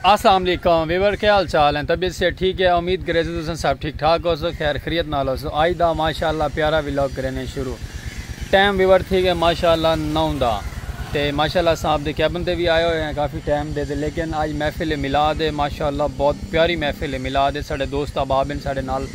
اسلام علیکم ویور کے حال چال ہیں طبیعت سے ٹھیک ہے امید کرے سے تسن سب ٹھیک ٹھاک ہو سو خیر خریت نال ہو سو آئی دا ماشاءاللہ پیارا ویلوگ کرینے شروع ٹائم ویور تھی گئے ماشاءاللہ نو دا تے ماشاءاللہ صاحب دے کیبن تے بھی آئے ہوئے ہیں کافی ٹائم دے دے لیکن آج محفل میلاد ہے ماشاءاللہ بہت پیاری محفل میلاد ہے ساڑے دوست احباب ہیں ساڑے نال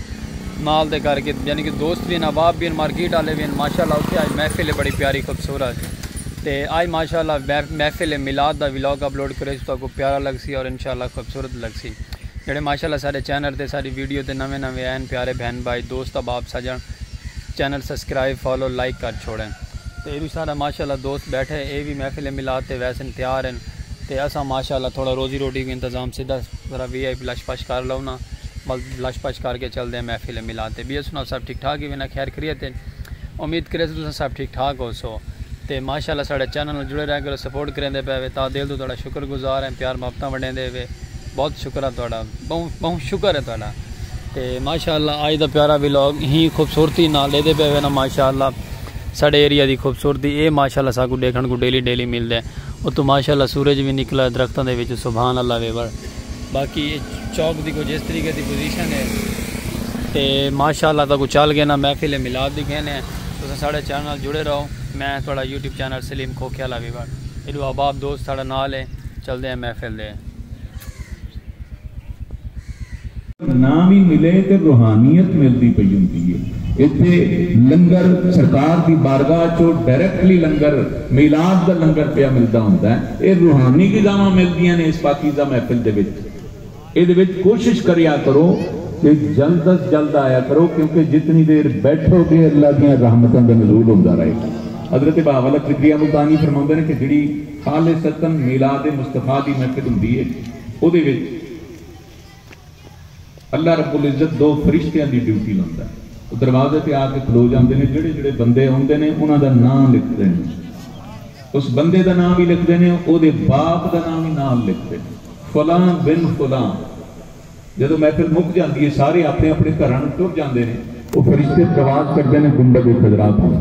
نال دے کر کے یعنی کہ دوست بھی ہیں احباب بھی ہیں مارکیٹ والے بھی ہیں ماشاءاللہ اتھے آج محفل ہے بڑی پیاری خوبصورت تے آئی ماشاء اللہ محفل میلاد دا ولاگ اپلوڈ کرے سو تاکو پیارا لگسی اور انشاء اللہ خوبصورت لگسی جڑے ماشاء اللہ سارے چینل تے ساری ویڈیو تے نویں نویں این پیارے بہن بھائی دوست احباب سجن چینل سبسکرائب فالو لائک کر چھوڑیں تے ایرو سارا ماشاء اللہ دوست بیٹھے اے وی محفل میلاد تے ویسن تیار ہیں تے اساں ماشاء اللہ تھوڑا روزی روٹی کو انتظام سیدھا ذرا وی آئی لش پش کر لو نا بس لش پش کر کے چل دے ہیں محفل میلاد تے بی ایس سناؤ سب ٹھیک ٹھاک ہی وینا خیر خریت ہیں امید کریسوں تساں سب ٹھیک ٹھاک ہوسو تے ماشاء اللہ ساڈے چینل نال جڑے رہیا کرو سپورٹ کریندے پئے وے تاں دل توں تہاڈا شکر گزار ہیں پیار محبتاں ونڈیندے وے بہت شکر ہے تہاڈا بہوں بہوں شکر ہے تہاڈا تے ماشاء اللہ اج دا پیارا ولاگ ہی خوبصورتی نال ڈیندے پئے وے نا ماشاء اللہ ساڈے ایریا دی خوبصورتی اے ماشاء اللہ ساکوں ڈیکھن کوں ڈیلی ڈیلی ملدے اتوں ماشاء اللہ سورج وی نکلا ہے درختاں دے وچوں سبحان اللہ وے باقی اے چوک دی کچھ اس طریقے دی پوزیشن ہے تے ماشاءاللہ تاکو چل گئے نا محفل میلاد دی کہنے ہیں تساں ساڑے چینل نال جڑے رہو میں ہاں تہاڑا یوٹیوب چینل سلیم کھوکھے والا ویور ایڈو احباب دوست ساڑے نال ہیں چلدے ہیں محفل دے۔ ناں وی ملے تے روحانیت ملدی پئی ہوندی اے۔ ایتھے لنگر سرکار دی بارگاہ اچوں ڈائریکٹلی لنگر میلاد دا لنگر پیا ملدا ہوندا اے۔ اے روحانی غذاواں ملدیاں نے اس پاکیزہ محفل دے وچ۔ ایندے وچ کوشش کریا کرو کہ جلد از جلد آیا کرو کیونکہ جتنی دیر بیٹھو گے اللہ دیاں رحمتاں دا نزول ہوندا رہے گا۔ حضرت بہاوالحق ذکریہ ملتانی فرماوندے نے کہ جیڑھی خالصتا میلاد مصطفی دی محفل ہوندی اے اودے وچ اللہ رب العزت دو فرشتیاں دی ڈیوٹی لاندا ہے۔ او دروازے تے آ کے کھلو جاندے نے۔ جیڑھے جیڑھے بندے اوندے نے انہاں دا ناں لکھدے نے۔ اس بندے دا ناں وی لکھدے نے او دے باپ دا ناں وی نال لکھدے نے۔ فلاں بن فلاں۔ جدوں محفل مک جاندی ہے سارے اپنے اپنے گھراں نوں ٹر جاندے نے۔ او فرشتے ترواز چڑھدے نے گنبد خضرا توں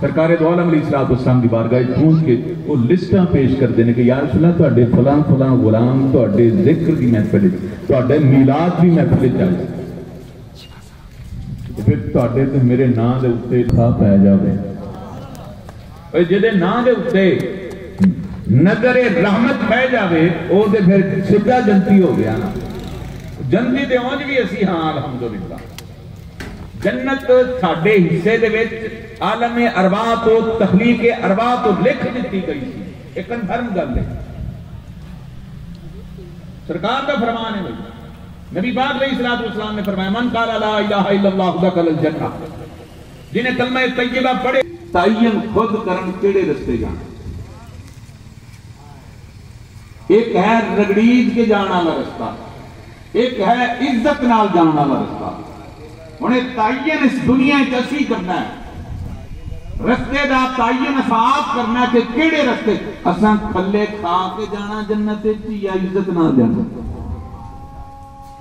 سرکار دوعالم علیہ الصلوۃ والسلام دی بارگاہ اچ پہنچ کے او لسٹاں پیش کردے نے کہ یارسول اللہ تہاڈے فلاں فلاں غلام تہاڈے ذکر دی محفل اچ تہاڈے میلاد دی محفل اچ آئے سن تے پھر تہاڈے تے میرے ناں دے اتے تھا پے جاوے۔ اے جیندے ناں دے اتے نظر رحمت پے جاوے او تے پھر سدھا جنتی ہو گیا نا۔ جنتی تے اونج وی اسی ہاں الحمدللہ۔ جنت ساڈے حصے دے وچ عالم ارواح توں تخلیق ارواح توں لکھ ڈتی گئی سی۔ اے کنفرم گل اے۔ سرکار دا فرمان اے بھئی نبی پاک علیہ الصلوۃ والسلام نے فرمایا من قال لا الہ الا اللہ دخل الجنہ۔ جنہیں کلمہ طیبہ پڑھے۔ تعین خود کرن کیڑھے رستے جانا۔ ہک ہے رگڑیج کے جان آلا رستہ۔ ہک ہے عزت نال جان آلا رستہ۔ ہن اے تعین اس دنیا اچ اسیں کرنا ہے۔ رستے دا تعین اساں آپ کرنا ہے کہ کیڑھے رستے اساں کھلے کھا کے جانا جنت اچ یا عزت نال جانا۔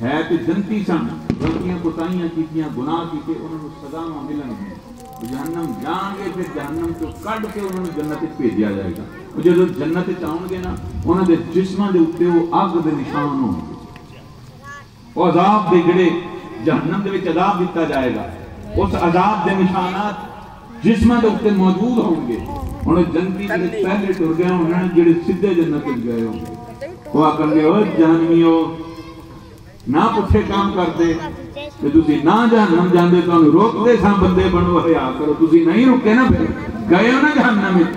ہے تے جنتی سن، غلطیاں کوتاہیاں کیتیاں، گناہ کیتے، انہاں نوں سزاواں ملن گیاں، او جہنم جان گے، پھر جہنم چوں کڈھ تے انہاں نوں جنت وچ بھیجیا جائے گا، او جدوں جنت وچ آون گے نا، انہاں دے جسماں دے اتے او اگ دے نشان ہون گے۔ او عذاب دے جیہڑے جہنم دے وچ عذاب ڈتا جائے گا، اس عذاب دے نشانات۔ جسماں دے اتے موجود ہون گے ہن او جنتی دے وچ پہلے ٹر گئے ہونن جیڑھے سدھے جنت وچ گئے ہون گے او آکھن گے اوئے جہنمیو نہ پٹھے کم کردے تے تسی نہ جہنم جاندے تہانوں روک دے ساں بندے بنو حیا کرو تسی نہیں رکے نہ پھر گئے ہو نہ جہنم وچ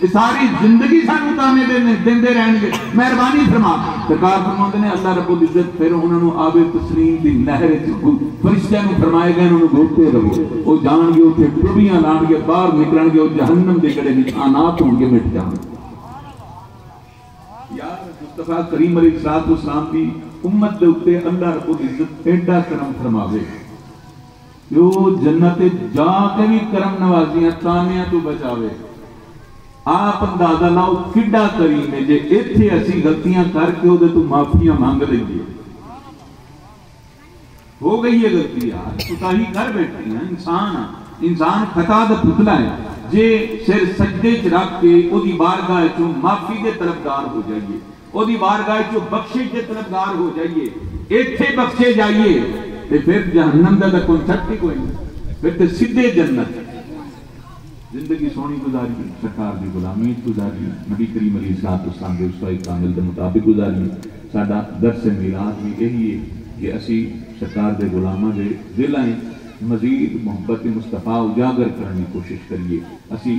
اے ساری زندگی سانوں طعنے ݙیندے ݙیندے رہݨ گے، مہربانی فرما۔ سرکار فرماوندے نے اللہ رب العزت پھر انہاں نوں آب تسنیم دی نہر وچ گھو فرشتیاں نوں فرمائے گے انہاں نوں گھوتے رہو او جاݨ گے اتھے ٹٻیاں لہݨ گے ٻاہر نکلݨ گے او جہنم دے گڑھے وچ آنات ہون گے مٹ جاون گے۔ یار مصطفی کریم علیہ الصلوۃ والسلام دی امت دے اتے اللہ رب العزت اینڈا کرم فرماوے۔ جو جنت اچ جا تے وی کرم نوازیاں طعنیاں توں بچاوے۔ آپ اندازہ لاؤ کیڈا کریم ہے جے ایتھے اسیں غلطیاں کر کے اودے توں معافیاں منگ لئیے۔ ہو گئی ہے غلطی یار، کوتاہی کر بیٹھے ہیں، انسان آں، انسان خطا دا پتلا ہے، جے سر سجدے اچ رکھ کے اودی بارگاہ اچوں معافی دے طلبگار ہو جائیے۔ اودی بارگاہ اچوں بخشش دے طلبگار ہو جائیے، ایتھے بخشے جائیے تے فر جہنم دا تاں کنسپٹ ای کوئی نی، فر تے سدھے جنت۔ زندگی سوہنی گزاریے، سرکار دی غلامی اچ گزاریے، نبی کریم علیہ الصلوۃ والسلام دے اسوہ کامل دے مطابق گزاریے، ساڈا درس میلاد وی ایہی اے کہ اسی سرکار دے غلاماں دے دلاں اچ مزید محبت مصطفی اجاگر کرݨ دی کوشش کریے، اسی۔